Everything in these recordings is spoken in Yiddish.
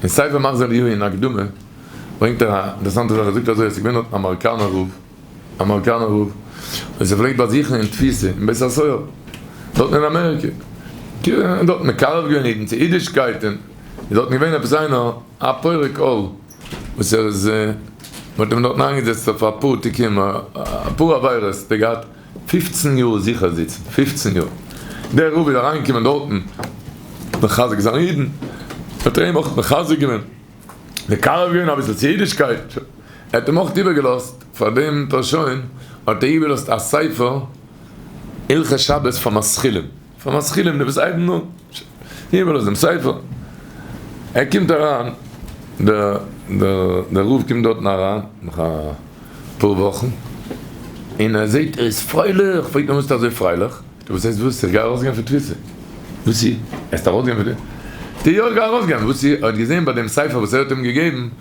אין ספר מחזור יהוה אין הקדמה ברענגט ער א אינטערעסאנטע זאך ער זאגט אזוי אז ס'איז געווען א מאראקאנער רב א מאראקאנער רב וואס ער פלעגט באזוכן אין תפיסה אין בית הסוהר דארטן אין אמעריקע און דארט מקרב געווען אידן צו אידישקייט און איז דארטן געווען עפעס איינער א פורק עול וואס ער איז מ'האט אים דארטן איינגעזעצט אויף אפאר תיקונים אפאר עבירות ער האט געהאט. פֿופֿצן יאר זיכער זיצן, פֿופֿצן יאר. דער רב איז אריינגעקומען דארטן מחזק זיין אידן, ער האט איהם אויך מחזק געווען, מקרב געווען אביסל צו אידישקייט, ער האט איהם אויך איבערגעלאזט, פאר דעם פארשוין האט ער איבערגעלאזט א ספר הלכות שבת פאר משכילים. פאר משכילים די וואס אייבן אן הימל אויף דעם ספר, ער קומט אריין דער דער דער רב קומט דארטן אריין נאך א פאר וואכן און ער זעט ער איז פרייליך, פרעגט מען וואס ביסטו אזוי פרייליך? וואס הייסט וואס? איך גיי ארויסגיין פון תפיסה. וואסי? ער האט ארויסגיין פון תפיסה? די יא איך גיי ארויסגיין, וואסי? ער האט געזען ביי דעם ספר וואס ער האט אים געגעבן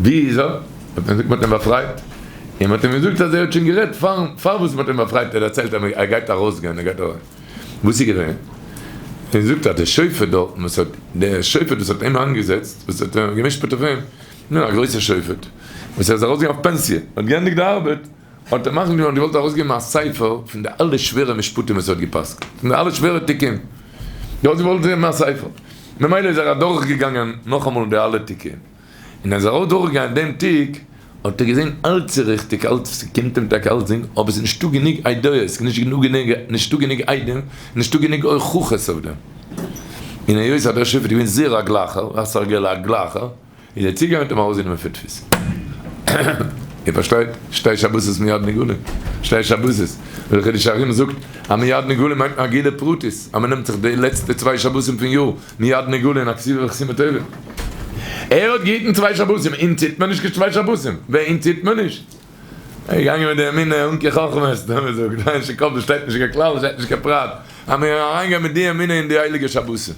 ווי איז ער? האט מען געזאגט מ'האט אים באפרייט, און מ'האט אים געזאגט אז ער האט שוין גערעדט פארן פארוואס מ'האט אים באפרייט, ער האט דערציילט אז ער גייט ארויסגיין ער גייט ארויס, וואס איז געווען? און ער זאגט אז דער שופט דארטן וואס האט דער שופט וואס האט אים איינגעזעצט וואס האט געמשפט אויף אים, נו א גרויסער שופט וואס ער איז ארויסגעגאנגען אויף פענסיע, האט געענדיגט די ארבעט, האט ער מחליט געווארן געוואלט ארויסגעבן א ספר פון די אלע שווערע משפטים וואס ער האט געפסקנט, פון די אלע שווערע תיקון, ער האט געוואלט געבן א ספר, ממילא איז ער אדורך געגאנגען נאכאמאל די אלע תיקון, און עז ער אויך דורך געגאנגען דעם תיק, האט ער געזען אלץ איז ריכטיג, אלץ ס'קומט אים טאקע אלץ דינג, אבער ס'איז נישטא גענוג עדויות, נישטא גענוג עדים, נישטא גענוג הוכחות אויף דעם, און היות אז דער שופט איז געווען זעהר א גלייכער, א סרגל א גלייכער. איז ער צוגעגאנגען און האט אים ארויסגענומען פון תפיסה. איר פארשטייט? שתי שבתות מיד נגאלין. שתי שבתות. דער חידוש הרי ם זאגט אז מיד נגאלין מיינט נאר גילו פרטית, אז מען נעמט זיך די לעצטע צוויי שבתים פון יאר מיד נגאלין א כסיל וכסיל מטובים. ער האט געהיטן צוויי שבתים, אונז היט מען נישט קיין צוויי שבתים. ווער? אונז היט מען נישט. ער איז געגאנגען מיט די אמינע אנקי חכמות, ווי מען זאגט, ווייל אין שו ק דארט שטייט נישט קיין כלל, שטייט נישט קיין פרט, אז מען קען אריינגיין מיט די אמינע אין די הייליגע שבתים.